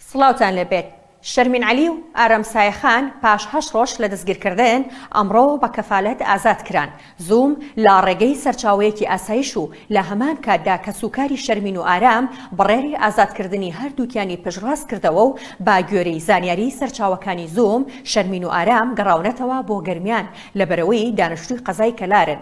سڵاوتان لێبێت شەرمین عەلی و ئارام سایەخان پاش هەشت ڕۆژ لە دەستگیرکردن ئەمڕۆ بە کەفالەت ئازاد کران زووم لە ڕێگەی سەرچاوەیەکی ئاسایش و لە هەمان کاتدا کەسوکاری شەرمین و ئارام بڕێری ئازادکردنی هەردووکیانی پشتڕاست کردەوە و با گوێرەی زانیاری سەرچاوەکانی زووم شەرمین و ئارام گەڕاونەتەوە بۆ گەرمیان لەبەرەوەی دانیشتووی قەزای کەلارن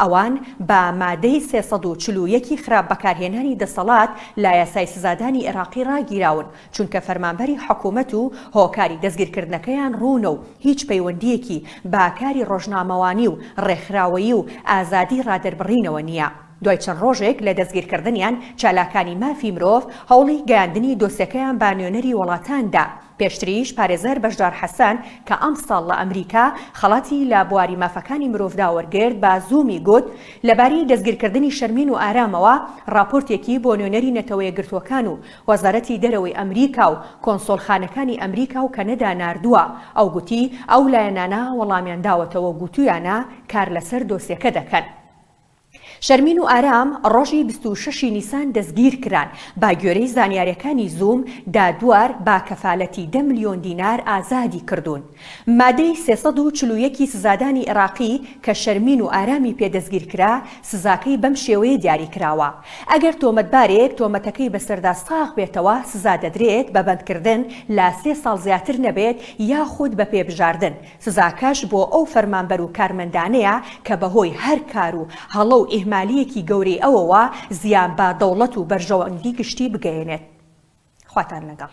ئەوان بە مادەی سێ سەد و چل و یەک ی خراپ بەکارهێنانی دەسەڵات لە یاسای سزادانی ئێراقی ڕاگیراون، چونکە فەرمانبەری حکومەت و هۆکاری دەستگیرکردنەکەیان ڕوونە و هیچ پەیوەندییەکی بە کاری ڕۆژنامەوانی و ڕێکخراوەیی و ئازادی ڕادەربڕینەوە نییە. دوای چەند ڕۆژێک لە دەستگیرکردنیان، چالاکانی مافی مرۆڤ هەوڵی گەیاندنی دۆسێکەیان بە نوێنەری وڵاتان دا، پێشتریش پارێزەر بەشدار حەسەن کە ئەمساڵ لە ئەمریکا خەڵاتی لە بواری مافەکانی مرۆڤدا وەرگرت بە زوومی گوت لەبارەی دەستگیرکردنی شەرمین و ئارامەوە ڕاپۆرتێکی بۆ نوێنەری نەتەوەیەکگرتووەکان و وەزارەتی دەرەوەی ئەمریکا و کۆنسۆڵخانەکانی ئەمریکا و کەنەدا ناردووە ئەو گوتی ئەو لایەنانە وەڵامیان داوەتەوە و گوتوویانە کار لەسەر دۆسیەکە دەکەن. شەرمین و ئارام ڕۆژی بیست و شەش ی نیسان دەستگیرکران، باگوێرەی زانیارەکانی زووم، دادوار با کەفالەتی دە ملیۆن دینار ئازادی کردوون. مادەی سێ سەد و چل و یەک ی سزادانی ئێراقی کە شەرمین و ئارامی پێ دەستگیرکرا سزاکەی بەم شێوەیە دیاریکراوە، ئەگەر تۆمەتبارێک تۆمەتەکەی بەسەردا ساغ بێتەوە سزادەدرێت بە بەندکردن لە سێ ساڵ زیاتر نەبێت یاخود بە پێبژاردن سزاکەش بۆ ئەو فەرمانبەر و کارمەندانەیە کە بەهۆی هەر کار و هەڵە و ئیهمالییەکی گەورەی ئەوەوە زیان بە دەوڵەت و بەرژەوەندی گشتی بگەیەنێت. خواتان لەگەڵ.